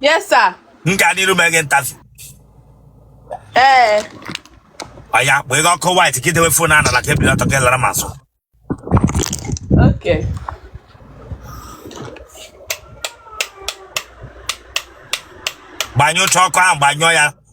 Yes, sir. M ga n'iru mee gị interview. Ee. Ọya, gbaa ga ọkụ white ka idewe fon a n'ala ka ibili ọtọ ka ịlara m azụ. Okay. Gbanyụcha ọkụ ahụ gbanyụọ ya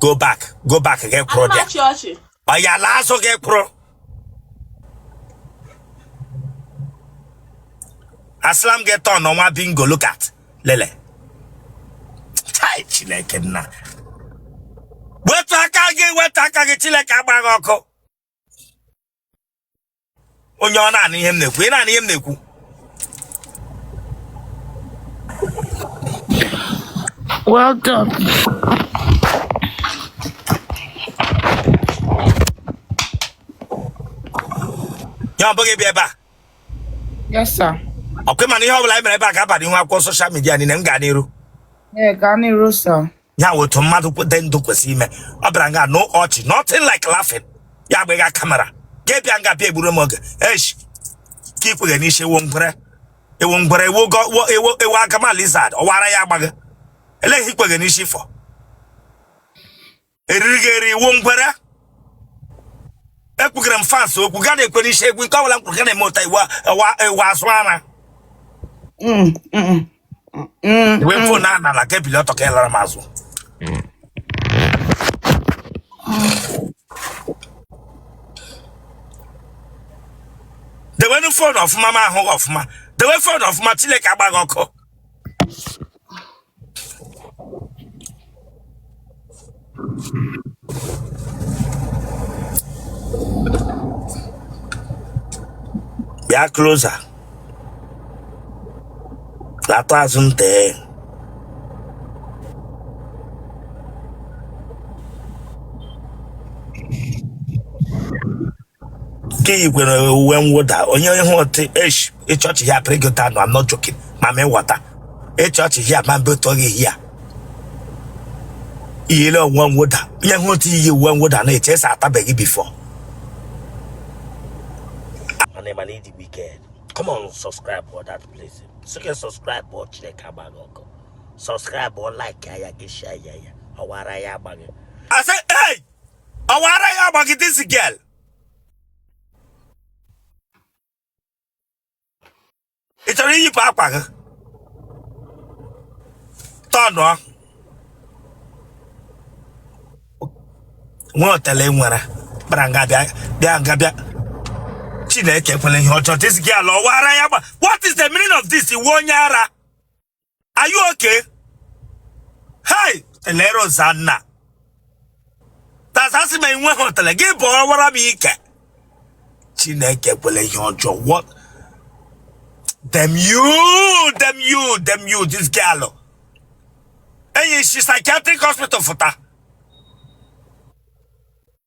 go back go back gị kwụrụ Ana m bịa achị ọchị. ọya laa azụ gị kwụrụ asịla m gị tọn nwa bingo look at lele chai chineke nna wetu aka gị wetu aka gị chineke agba gị ọkụ onye ọ na-anụ ihe m na-ekwu ị na-anụ ihe m na-ekwu Well done. ya ọ bụghị bịa ebe a Yes, sir. ọkwa ịma na ihe ọ bụla anyị mere ebe a ga-aba n'ihu akwụkwọ social media niile m ga n'iru Yeah, ga n'iru, sir. ya wụ otu mmadụ dị ndụ kwesịrị ime ọ bịara nga no ọchị nothing like laughing ya gbaga kamera gị bịa nga bịa egburu m oge esh ka ikweghe n'isi ị wụ ngwere ị wụ ngwere ị wụ go- wo- ị wụ ị wụ agama lizard ọwara ya agba gị lee gị ikweghe n'isi fọ eriri gị eri ị wụ ngwere ekwughere m fans okwu gị na-ekwe n'isi okwu nke ọbụla m kwuru gị na-eme ụta ị wụ ị wụ azụ ara Mm, mm, mm. wee fon a n'ala ka ibili ọtọ ka ịlara m azụ dewenu fon ọfụma m ahụ gị ọfụma dewe fon ọfụma chineke agba gị ọkụ bịa closer lata azụ nte ka iyi kwere uwe mwụda onye ihu otu esh ị chị ọchị ya pịrị gị ụta nọ I'm not joking ma ma ịghọta ị chị ọchị ya ma mbe ụtọ gị ya iyile uwe mwụda onye ihu otu iyi uwe mwụda na-eche esa atabeghị before mana ị mana ịdị wicked come on subscribe for that place so you can subscribe for chineke agba gị ọkụ subscribe or like ya gị share ya ya ọwara ya agba gị I say, hey! ọwara ya agba gị this girl ị chọrọ iyipụ akwa gị tọnụọ nwa otele ngwere bịara nga bịa bịa nga bịa chineke ekwele ihe ọjọọ this girl ọwara ya agba what is the meaning of this ị wụ onye ara are you okay hey elere ozanna tazasị ma enwe hotel gị bụ ọwara m ike chineke ekwele ihe ọjọọ what damn you damn you damn you this girl ee i si psychiatric hospital fụta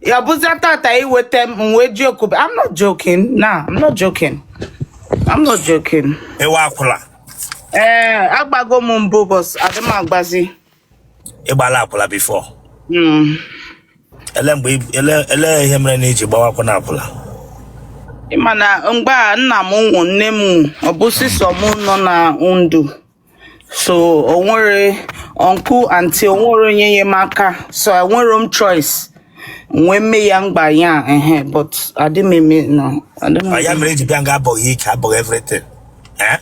ya bụzia tata iweta m m wee joke I'm not joking na I'm not joking I'm not joking ị wụ akwụla ee agbago m mbụ boss adị m agbazi ị gbala akwụla before Mm. ele mgbe ị- ele ele ihe mere na i ji gbawa akwụna akwụla Ị ma na mgbe a nna m nwụ nne m nwụ ọ bụzi sọ m nọ na ndụ so onwere uncle aunty onwere onye enyemaka so enwere m choice m wee mee ya mgba ya ehe but adị m eme no adị m Ọ ya mere i ji bịa nga abụghị ike abụghị everything Eh?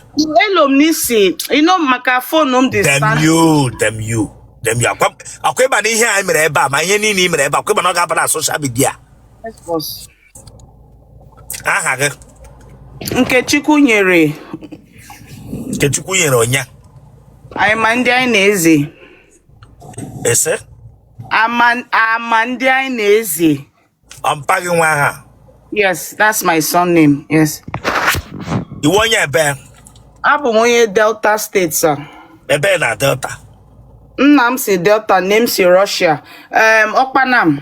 elo m n'isi ino maka phone m dị dem stand you damn you damn you ọ kwa ọ kwa ị ma na ihe anyị mere ebe a ma ihe niile i mere ebe a, ọ kwa ị ma na ọ ga-aba na social media Yes, boss. aha gị Nkechukwunyere Nkechukwunyere onye Amandịanaeze ị sị ama Amandịanaeze ọ mpa gị nwe aha yes that's my surname yes ị wụ onye ebee abụ m onye delta state sir ebee na delta nna m si delta nne m si russia um, Okpanam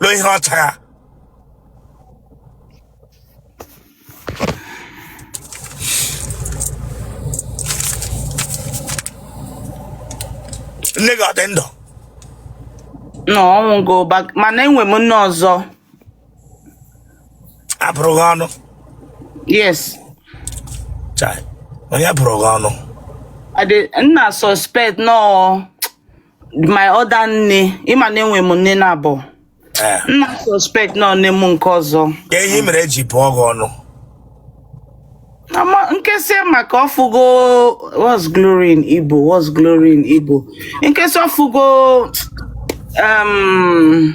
ruo ihe ọ chara nne gị ọ dị ndụ no ọ nwụgo but mana enwe m nne ọzọ a bụrụ gị ọnụ yes Chai, onye bụrụ gị ọnụ I dey- m na suspect na ọ my other nne ị ma na enwe m nne naabọ Eh. m na suspect na ọ nne m nke ọzọ Ka ihe mere e ji bụọ gị ọnụ. ama in case maka ọ fụgo what's glory in igbo what's glory in igbo in case ọ fụgo um,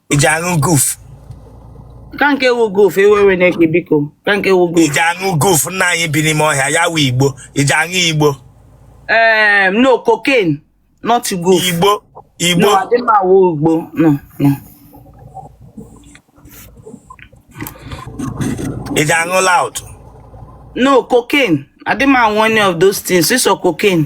i ji aṅụ guf kee nke wụ guf ewewe na-ekpe biko kee nke wụ guf i ji aṅụ guf nna anyị bi n'ime ọhịa ya wụ igbo i ji aṅụ igbo ee ehm, no cocaine not guf igbo igbo no adị m aṅụ igbo no no i ji aṅụ loud no cocaine adị m aṅụ any of those things sọ cocaine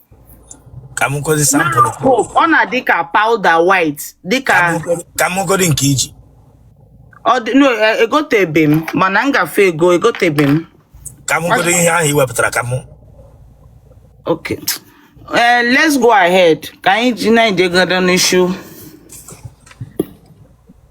ka m gosi sample Now hope ọ na-adị ka powder white dịka ka m gosi- ka m gosi nke iji ọ dị no e- egotebe m mana m gafe ego egotebe m ka m gosi ihe ahụ i wepụtara ka m okay Eh, let's go ahead ka anyị ji na-ejegodo n'ishu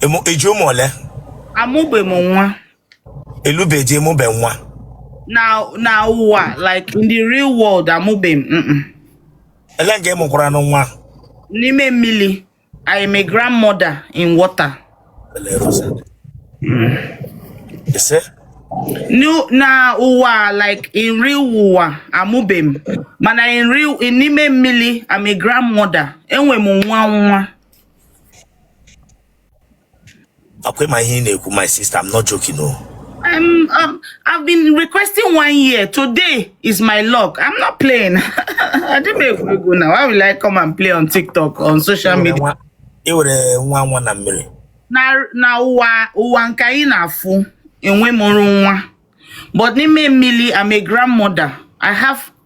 Emu- I ji ụmụ ole? amụbe m nwa Alụbe di amụbe nwa. na na ụwa like in the real world amụbe m mm-mm. Ele nga ị mụkwaranụ nwa. n'ime mmili I am a grandmother in water Ele Rosa. Ise. No, na ụwa like in real ụwa amụbe m mana in real in n'ime mmili I'm a grandmother enwe m nwa nwa ọkwa ị ma ihe ị na-ekwu my sister I'm not joking o I'm, um, I've been requesting one year. Today is my luck. I'm not playing. I didn't make we go now. Why will I come and play on TikTok, on social media? Nwa- i nwere nwa nwa na mmiri Na na ụwa ụwa nke anyị na-afụ enwe mụrụ nwa. But n'ime mmili, I'm a grandmother. I have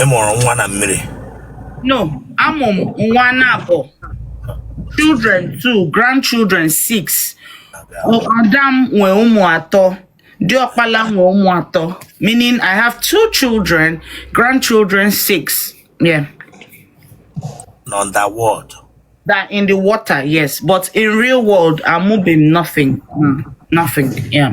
ị mụrụ nwa na mmiri no amụ m nwa naabọ children two grandchildren six ada m nwee ụmụ atọ diọkpala m nwee ụmụ atọ meaning i have two children grandchildren six yeah underworld that in the water yes but in real world amụbe m nothing Mm, nothing yeah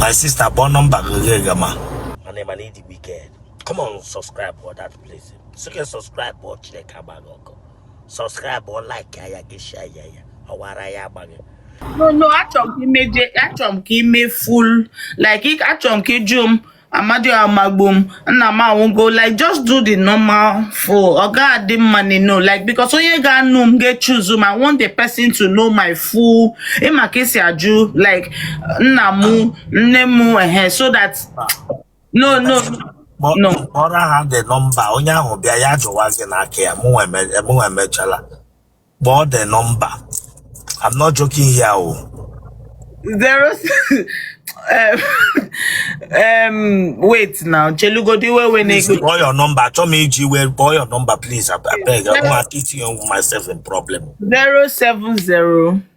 my sister kpọọ nọmba gị gị gị ma mana ị ma na ị dị wicked come on subscribe for that place so you can subscribe o Chineke agba gị ọkụ subscribe o like ya gị share ya ya ọwara ya agba gị no no achọ m ka i meje achọ m ka i me full like achọ m ka ị jụ m Amadi amagbu m, nna m anwụgo, like just do the normal afụ ọ ga-adị mma nị, no, like because onye ga-anụ m ga-achoose m, I want the person to know my full ị ma ka e si ajụ like nna mụ, nne mụ, ehe, so that no no no kpọrọ ha the number onye ahụ bịa ya jụwa gị n'aka ya mụnwa eme- mụnwa emechala kpọọ the number I'm not joking here o zero um, um, wait now chelugodi iwe we please na-ekpe kpọọ your number achọ m iji iwe kpọọ your number please I I beg I want to get you myself in problem zero seven zero